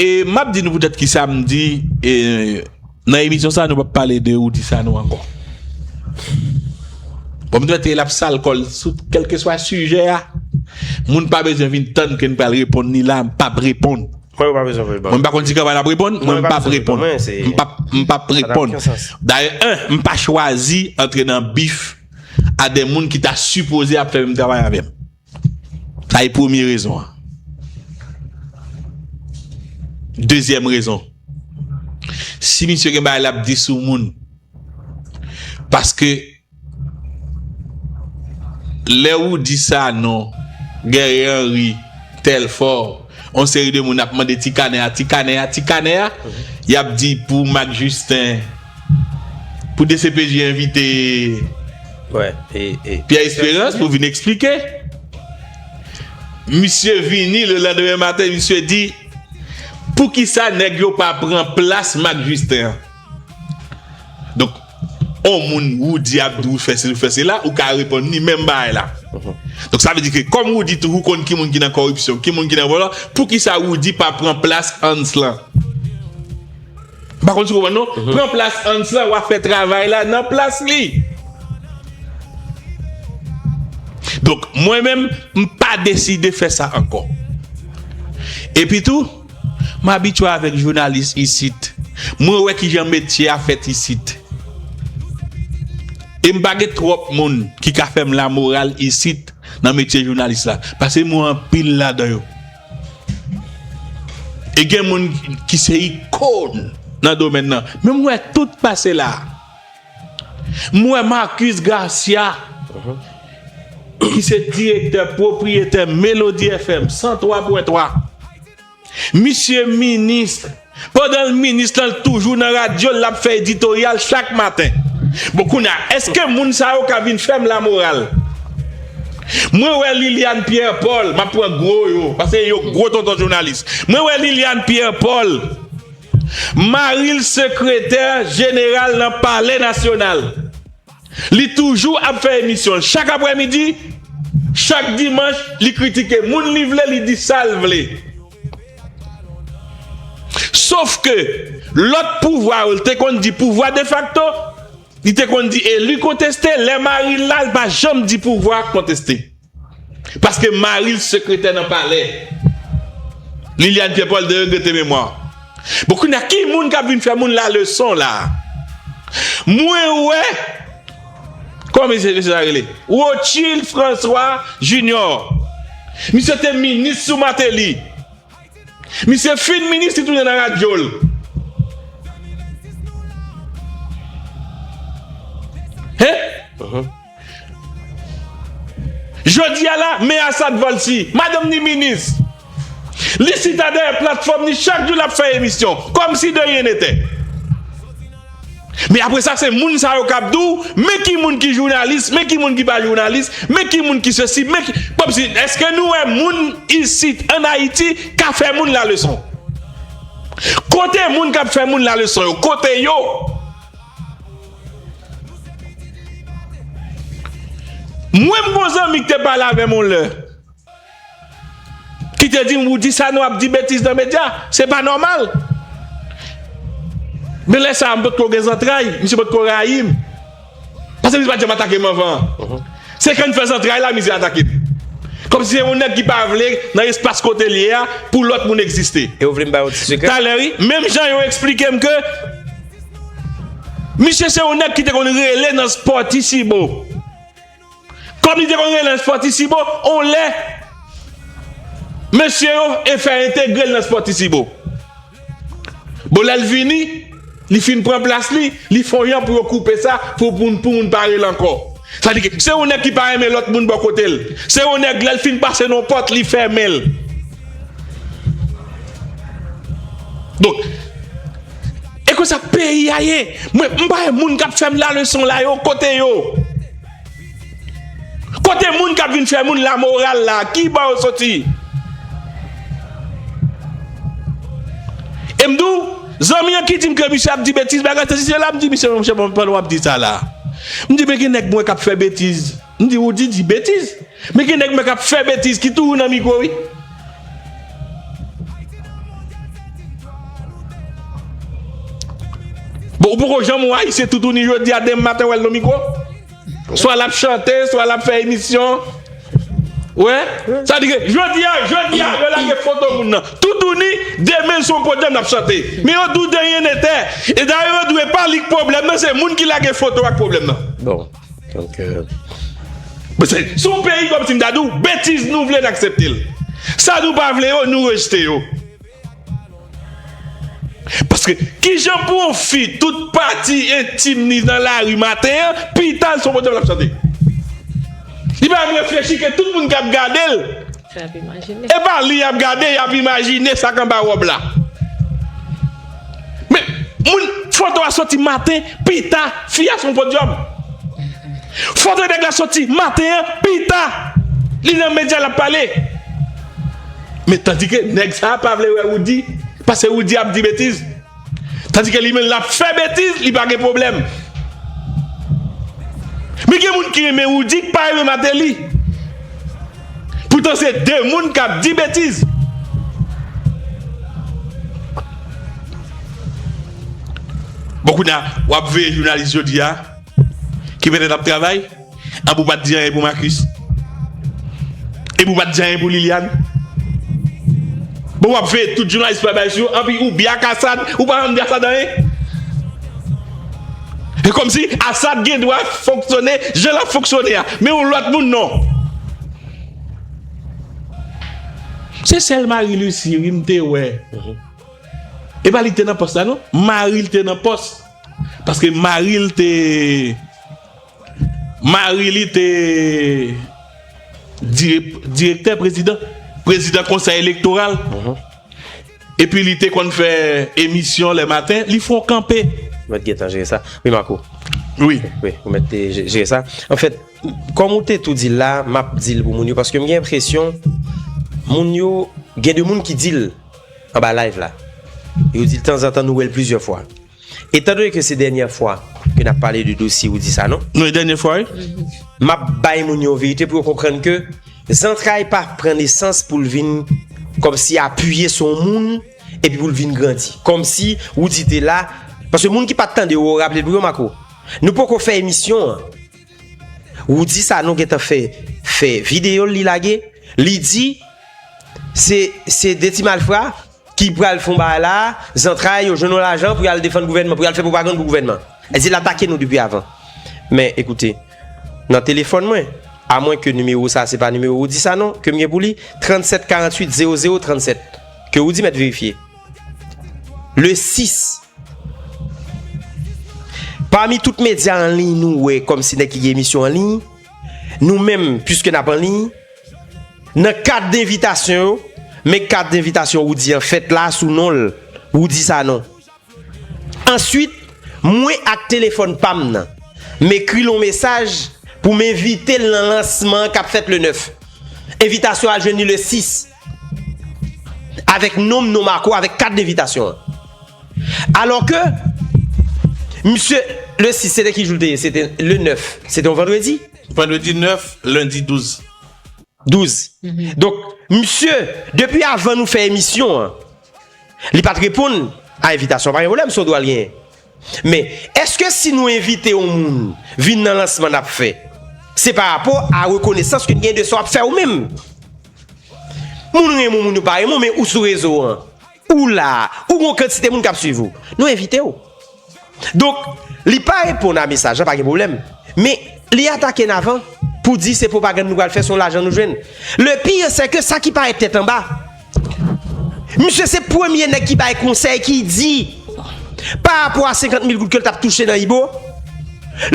E map di nou pou tèt ki sa m di e nan emisyon sa nou pap pale de ou di sa nou ankò. Bon m te mèt e lap sal kòl sou kelke swa sijè a. Moun pa bezwen vin tann ke n pral reponn ni la m pap reponn. Mwen pa bezwen vin tann. Mwen pa konn si kaba lap reponn mwen m pap reponn. M pap reponn. Dayè 1 m pa chwazi antre nan bif a de moun ki ta sipoze ap fè menm travay avèm. Sa e premye rezon an. Dezyèm rezon. Si misye gen bagay lap di sou moun. Paske lè Roody Sanon, Guerrier Henry, Telfort, yon seri de moun ap mande ti kanè a, ti kanè a, ti kanè a, yap di pou Marc Justin, Pou dcpj envite Pierre Esperance pou vin eksplike. Misye vini le landeme maten misye di pou ki sa neg yo pa pran plas Marc Justin an. Donk on moun Roody ap di ou fè si ou fè si la ou ka reponn ni menm bay la. Donk sa vle di ke kom Roody toujou konn ki moun ki nan koripsyon, ki moun ki nan volo, pou ki sa Roody pa pran plas Hans lan. M pa konn si w konprann non. Pran plas Hans lan, w ap fè travay la nan plas li. Donk, mwen menm, m pa deside fè sa ankò. Epitou, m abitye avèk jounalis isit. Mwen wè kijan metye a fèt isit. E m pa gen twòp moun ki ka fè m lamoral isit nan metye jounalis la. Pase m wè anpil ladan yo. E gen moun ki se ikon nan domèn nan. Men m wè tout pase la. M wè Marcus Garcia ki se direktè pwopriyetè Melodie FM 103.3. Misye minis. Pandan l minis lan l toujou nan radyo l lap fè editoryal chak maten bon kounya eske moun sa yo ka vin fèm la moral mwen wè Liliane Pierre Paul map pran gwo yo paske yo gwo tonton jounalis mwen wè Liliane Pierre Paul mari l sekretè jeneral nan palè nasyonal li toujou ap fè emisyon l chak aprè midi chak dimanch li kritike moun li vle li di sal vle. Sof ke, lòt pouvwa yo, li te konn di pouvwa defakto, li te konn di eli konteste, lè mari l la, li pa janm di pouvwa konteste. Paske mari l sekretè nan palè. Liliane Pierre Paul de regrete memwa. Bon kounye a, ki moun k ap vin fè moun la leson la? Mwen wè. Kòman se mesye sa rele? Rotchild François Junior. Misye te minis sou Martelly. Misye fin minis li tounen nan radyo l. Hein? Jodi a la, Me Assad Valcy, madanm ni minis. Li chita dèyè platfòm li chak jou lap fè emisyon kòm si de ryen netè. Men apre sa se moun sa yo kap di w men ki moun ki jounalis, men ki moun ki pa jounalis, men ki moun ki sesi, men ki kòm si eske nou wè moun isit an Ayiti ka fè moun la leson? Kote moun kap fè moun la leson yo? Kote yo? Mwen m gon zanmi ki te pale avè m yon lè. Ki te dim Roody sa nou ap di betiz nan media se pa nòmal men lè sa a m pot ko gen zantray misye pot ko rayi m paske misye pat janm atake m anvan an se kan n fè zantray la misye atake m kòmsi se yon nèg ki pa vle nan espas kote l ye a pou lòt moun egziste talè wi menm jan yo esplike m ke misye se yon nèg ki te konn rele nan spò ti sibo. Kòm li te konn rele l Spòtisibo, on lè, mesye yo e fè entegre l nan Spòtisibo. Bon, lè l vini, li fin pran plas li, li fè yon jan pou yo koupe sa, pou moun pa rele l ankò. Sa vle di ke se yon nèg ki pa renmen lòt moun bò kote l. Se yon nèg, lè l fin pase nan yon pòt, li fèmen l. Donk, E konsa peyi a ye. Mwen m pa wè moun kap fèm la leson la yo kote yo? Kote moun kap vin fè moun la moral la ki bò yo soti? E m di w zanmi an ki di m ke misye ap di betiz bagay sesi sela m di misye men monchè pandan wap di sa la m di men gen nèg mwen wè kap fè betiz. M di ou di di betiz. Men gen nèg mwen kap fè betiz ki toujou nan mikro wi. Bon ou poko janm wè ayisyen toutouni jodi a demen maten wèl nan mikro? Swa lap chante, swa lap fè emisyon. Wè? Sa vle di ke jodi a, jodi a yo lage foto moun nan toutouni, demen l sou yon podyòm lap chante. Men yo di w deryen netè. E dayè yo di w e pa li k pwoblèm nan, se moun ki lage foto a k pwoblèm nan. Se yon peyi kom si m ta di w betiz nou vle n aksepte l. Sa nou pa vle yo nou rejte yo. Paske kijan pou yon fi tout pati entim ni nan lari maten an pita l son kote l ap chante. Li pa menm reflechi ke tout moun kap gade l Epa li yap gade yap imajine sak anba rob la Men moun foto a soti maten pita fi a sou yon podium Foto nèg la soti maten an pita li nan medya lap pale Men tandike nèg sa pa vle wè Roody pase Roody ap di betiz. Tandi ke li menm lap fè betiz li pa gen pwoblèm. Men gen moun ki renmen Roody ki pa renmen Martelly. Poutan se 2 moun kap di betiz. Bon kounya wap veye jounalis jodi a ki petèt ap travay. Anba ou pat di anyen pou Marcus? Epi ou pat di anyen pou Liliane? Bon wap veye tout jounalis pral bay sou yo anpi ou bya ak Asad ou pa janm di Asad anyen? Se komsi Asad gen dwa fonksyone jan lap fonksyone a men yon lòt moun non. Se sèl Marie Lucie wi m te wè epa li te nan pòs la non mari l te nan pòs paske mari l te Mari li te direktè prezidan, prezidan konsèy elektoral, epi li te konn fè emisyon lè maten, li fè yon kanpe. Ou mèt gentan jere sa. Wi Marco. Wi. Wi, ou mèt jere sa. Anfèt, kòm ou te tou di l la, m ap di l pou moun yo, paske m gen enpresyon moun yo, gen de moun ki di l anba live la, yo di l tanzantan nou wè l plizyè fwa. Etan done ke se dènyè fwa ke nap pale de dosye Roudy Sanon. Non e dènyè fwa wi. Map bay moun yo yon verite pou yo konprann ke zantray pa pran nesans poul vin kòmsi apiye sou yon moun epi poul vin grandi. Kòmsi Roudy te la, paske moun ki pat tande ou ou raple pou yo Marco. Nou poko fè emisyon an, Roudy Sanon gentan fè fè videyo li lage, li di se se 2 ti malfra. ki pral fon bagay la a, zantray yo jwenn yon lajan pou y al defann gouvènman, pou y al fè pwopagann pou gouvènman. Èd di l atake nou depi avan. Men, ekoute, nan telefòn mwen, amwen ke nimewo sa a se pa nimewo Roudy Sanon ke m gen pou li, 37 48 00 37, ke Roudy mèt verifye, le 6, pami tout medya anliy nou wè kòmsi nèg ki gen emisyon anliy, nou menm, piske n ap anliy, Nan kat denvitasyon yo, men kat denvitasyon Roudy an fèt la sou non l, Roudy Sanon. Answit, mwen ak telefòn pa m nan, m ekri l on mesaj pou m envite l nan lansman an k ap fèt le 9. Envitasyon al jwenn li le 6, avèk non m, non Marco, avèk kat denvitasyon an. Alò ke, misye, le 6, se te ki jou l te ye? Se te le 9, se te on vandredi. Vandredi 9, lendi 12. 12. Donk, misye, depi avan nou fè emisyon an, li pa t reponn a envitasyon an. Pa gen pwoblèm, se yon dwa l genyen. Men, èske si nou envite yon moun vin nan lansman n ap fè, se pa rapò a rekonesans ke n genyen de sa w ap fè ou menm? Moun renmen w, moun yo pa renmen w, men ou sou rezo an. Ou la, ou gen yon kantite moun kap swiv ou. Nou envite ou. Donk, li pa reponn a mesaj la, pa gen pwoblèm. Men, li atake n avan pou di se pwopagann nou pral fè, se yon lajan nou jwenn. Le pire se ke sa ki parèt tèt anba, misye se premye nèg ki bay konsèy ki di pa rapò a 50 mil goud ke l tap touche nan Ibo,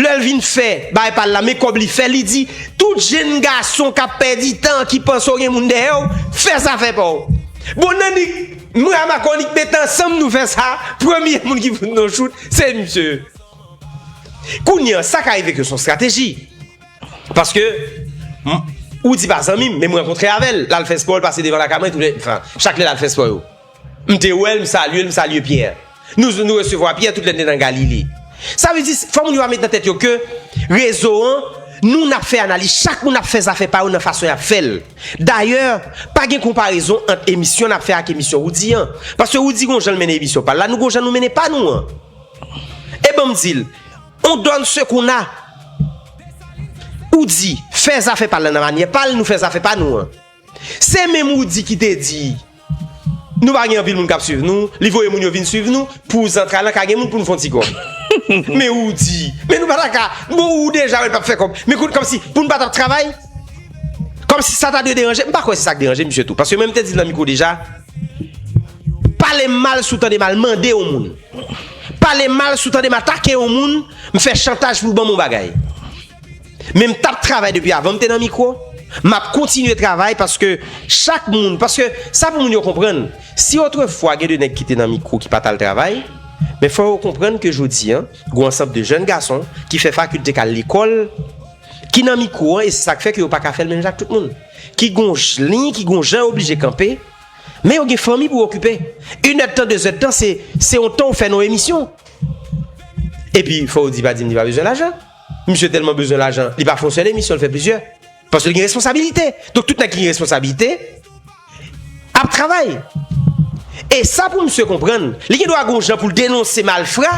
lè l vin fè bagay pa l la, men kòb li fè, li di tout jenn gason kap pèdi tan, ki panse ou gen moun dèyè ou, fè zafè pa ou. Bon nanik m rama konik met ansanm nou fè sa premye moun ki fout nou chout se misye kounya sa ka rive ke son strateji paske ou di pa zanmim men m rankontre avèl lal fè spò l pase devan lakay mwen tout le enfin chak lè lal fè spò yo m te wèl m salyel m salye Pierre. Nou resevwa Pyè tout lè n te nan Galile. Sa vle di, fò moun yo va met nan tèt yo ke rezo an, nou n ap fè analiz, chak moun ap fè zafè pa yo nan fason y ap fè l. Dayè, pa gen konparezon ant emisyon n ap fè ak emisyon Woudi an. Paske Woudi gen yon jan l mennen emisyon pa l la, nou gen yon jan nou mennen pa nou an. E ban m di l, on donne ce qu'on a. Woudi fè zafè pa l la nan manyè pa l, nou fè zafè pa nou an. Se menm Roody ki te di Nou pa gen anpil moun kap swiv nou Li voye moun yo vin swiv nou Pou zantray lan ka gen moun pou nou fon ti kòb Men Roody Men nou pa ta ka Bon ou deja wè l pap fè kòb Men kout kòmsi Pou nou pa tap travay Kòmsi sa ta dwe deranje M pa kwè se sa k deranje misye tou Paske menm te di l nan mikwo deja Pale m mal si w tande m al mande yon moun Pale m mal si w tande m atake yon moun M fè chantaj pou w ban m yon bagay Men m tap travay depi avan m te nan mikwo, m ap kontinye travay paske chak moun, paske sa pou moun yo konprann, si otrefwa gen de nèg ki te nan mikwo ki pa t al travay, men fò yo konprann ke jodi an, gou ansanp de jèn gason ki fè fakilte k al lekòl, ki nan mikwo an e se sa k fè ke yo pa ka fè l menm jan ak tout moun. Ki gou liy, ki gou jan yo oblije kanpe, men yo gen fanmi pou okipe. Yn èdtan, de zèdtan se se yon tan ou fè nan yon emisyon. Epi fò ou di pa di m li pa bezwen lajan. Misye telman bezwen lajan li pa fè yon sèl emisyon li fè plizyè paske li gen responsabilite donk tout nèg ki gen responsabilite ap travay e sa pou misye konprann li gen dwa gon jan pou l denonse malfra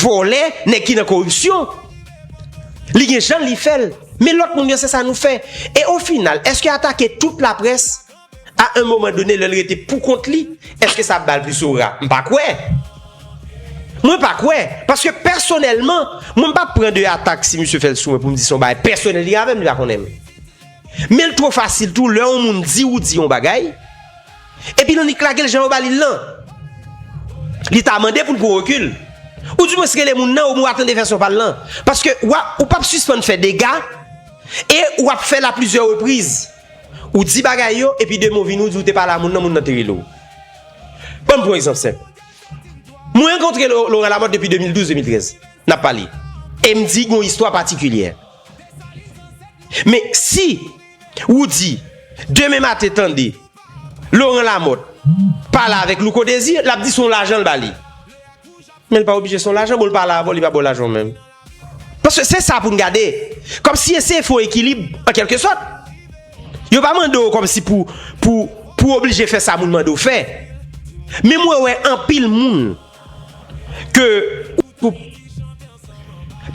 vòlè nèg ki nan koripsyon li gen jan li fè l men lòt moun yo se sa nou fè e o final eske atake tout laprès A un moment donné lèl rete pou kont li, eske sa ap bal plis ora? M pa kwè! Mwen pa kwè! Paske pèsonèlman, mwen m pap pran de atak si misye fèl sou mwen pou m di se yon bagay pèsonèl li gen avè m, li pa konnen m. Men l two fasil tou lè yon moun di ou di yon bagay, epi l annik lage l jan yo ba li l lan. Li ta mande pou l pran rekil. Ou di mwens rele moun nan ou mwa tande vèsyon pa l lan. Paske ou pap sispann fè dega e ou ap fè l a plizyè repriz. Ou di bagay yo epi de mo vini ou di ou te pale a moun nan moun nan te rele w. Ban m pran yon egzanp senp. Mwen rankontre Laurent Lamothe depi 2012, 2013. N ap pale. E m di gen yon istwa patikilyè. Men si ou di demen maten tande Laurent Lamothe pale avèk Louko Desir, l ap di se yon lajan l ba li. Men l pa oblije se yon lajan, bon l pale avè w li pa ba w lajan w menm. Paske se sa pou n gade. Kòm si eseye fè yon ekilib an kelke sòt. Yo pa mande w kòm si pou pou oblije fè sa moun mande w fè. Men mwen wè anpil moun ke pou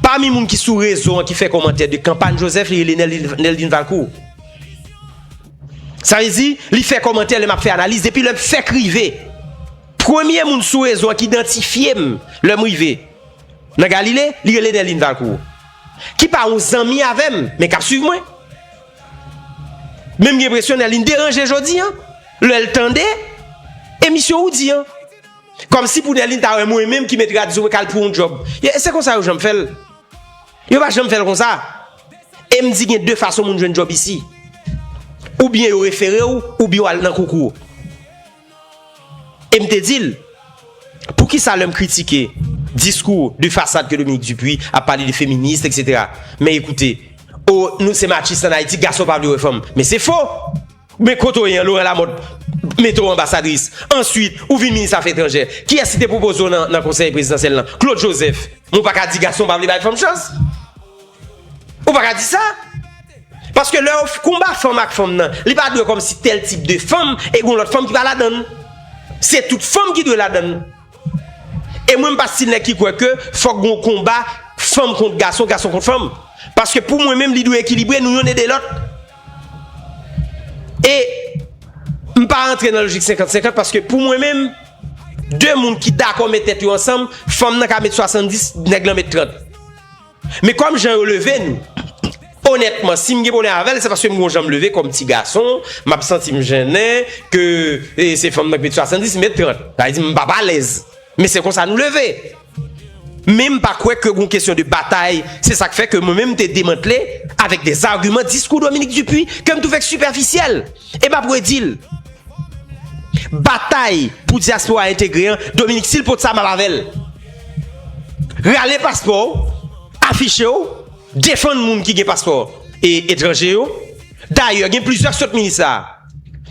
pami moun ki sou rezo an ki fè kòmantè de kanpany Joseph li rele Neldine Valcourt. Sa vle di li fè kòmantè lè m ap fè analiz depi lè m fèk rive. Premye moun sou rezo an ki idantifye m lè m rive. Nan Galile, li rele Nèlin Valkour, ki pa yon zanmi avè m, men k ap suiv mwen. Men m gen enpresyon Nèlin deranje jodi an, lè l tande emisyon Woudi an. Kòmsi pou Nèlin ta wè mwen menm ki met radyo k al pou yon djòb. Se konsa yo janm fè l. Yo pa janm fè l konsa. E m di gen de fason moun jwenn djòb isi. Oubyen yo refere w, oubyen w al nan koukou. E m te di l, Poukisa lè m kritike diskou de fasad ke Dominique Dupuy ap pale de feminist etc. Men ekoute, O nou se machist an Ayiti, gason pa vle wè fanm. Men se fo! Men kote w ye an, Laurent Lamothe mete w anbasadris. Answit, ou vin minis afè etranjè. Kiyès ki te pwopoze w nan konsèy prezidansyèl lan? Claude Joseph. Men w pa ka di gason pa vle bay fanm chans. Ou pa ka di sa! Paske lè yo konba fanm ak fanm nan, li pa dwe kòm si tèl tip de fanm e gon lòt fanm ki pa ladan l. Se tout fanm ki dwe ladan l. E mwen m pa stil nèg ki kwè ke fòk gon konba fanm kont gason, gason kont fanm. Paske pou mwen menm li dwe ekilibre, nou yonn ede lòt. E m pa rantre nan lojik senkant senkant paske pou mwen menm, de moun ki dakò met tèt yo ansanm, fanm nan ka met 70, nèg lan met 30. Men kòm jan yo leve nou, onètman si m gen pwoblèm avè l se paske m gen yon jan m leve kòm ti gason, m ap santi m jennen ke se fanm nan ki mèt swasandis, mèt trant. Sa vle di m p ap alèz. Men se konsa nou leve. Men m pa kwè ke gen yon kesyon de batay. Se sa k fè ke mwen menm m te demantle avèk dèzagiman diskou Dominique Dupuy ke m twouve k sipèfisyèl. E m ap redi l. Batay pou diaspora entegre an Dominique sil pot sa map avèl. Rale paspò w, afiche w, defann moun ki gen paspò etranje yo. Dayè gen plizyè k sot minis la.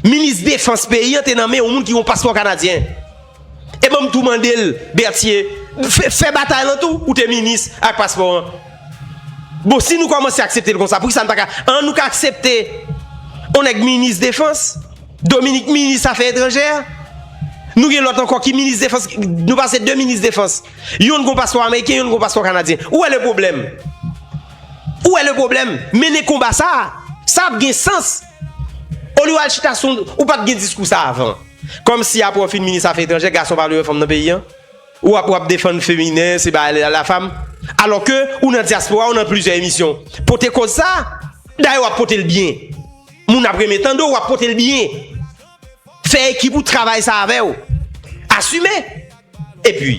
Minis defans peyi an te nan men yon moun ki gen yon paspò kanadyen. E banm tou mandel Bertier fè batay lan tou ou te minis ak paspò an bon si nou kòmanse akseptel konsa poukisa nou paka an nou ka aksepte on nèg minis defans Dominique minis afè etranjè nou gen lòt ankò ki minis defans nou pase 2 minis defans yonn gon paspò ameriken yonn gon paspò kanadyen ou wè le pwoblèm ou wè le pwoblèm mennen konba sa sa ap gen sans olye w al chita sou ou pat gen diskou sa avan. Kòm si apre w fin minis afè etranjè gason pa vle wè fanm nan peyi an? Ou ap wap defann feminen se ba la fam? Alò ke ou nan dyaspora ou nan plizyè emisyon pote koz sa a. Dayè wap pote l byen. Moun ap renmen tande w wap pote l byen. Fè ekip ou travay sa avè w. Asime! Epi,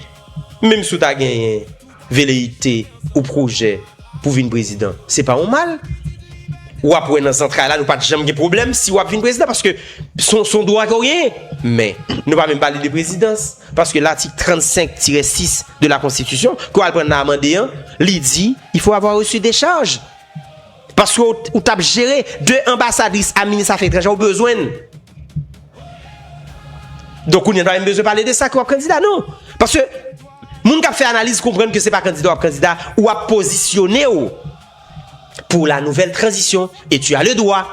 menm si w ta genyen. Veleyite ou pwojè pou vin prezidan se pa yon mal. Ou ap wè nan zantray la nou pat janm gen pwoblèm si ou ap vin prezidan paske son dwa ke ou genyen. Men, nou pa menm pale de prezidans paske latik 35 tirè 6 de la konstitisyon ke ou al pran nan amande an li di il faut avoir reçu décharge. Paske ou tap jere 2 anbasadris a minis afè etranje ou bezwenn. Donk kounye pa menm bezwen pale de sa ke wap kandida non. Paske moun kap fè analiz konprann ke se pa kandida wap kandida ou ap pozisyone ou pou la nouvèl tranzisyon e tu a le dwa.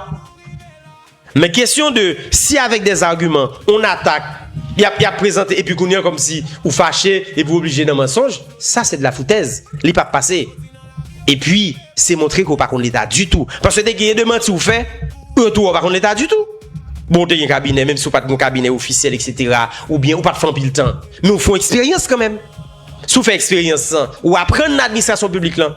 Men kesyon de si avèk des arguments on attaque yap yap prezante epi kounye an kòm si ou fache epi ou oblije nan mansonj sa se de la foutèz li pap pase epi se montre ke ou pa konn leta ditou paske te genyen de manti ou fè ou yo tou wè ou pa konn leta ditou bon ou te gen kabinè menm si ou pat gon kabinè ofisyèl eksetera ou byen ou pat fè anpil tan men ou fon eksperyans kanmenm si ou fè eksperyans lan ou aprann nan administrasyon piblik lan.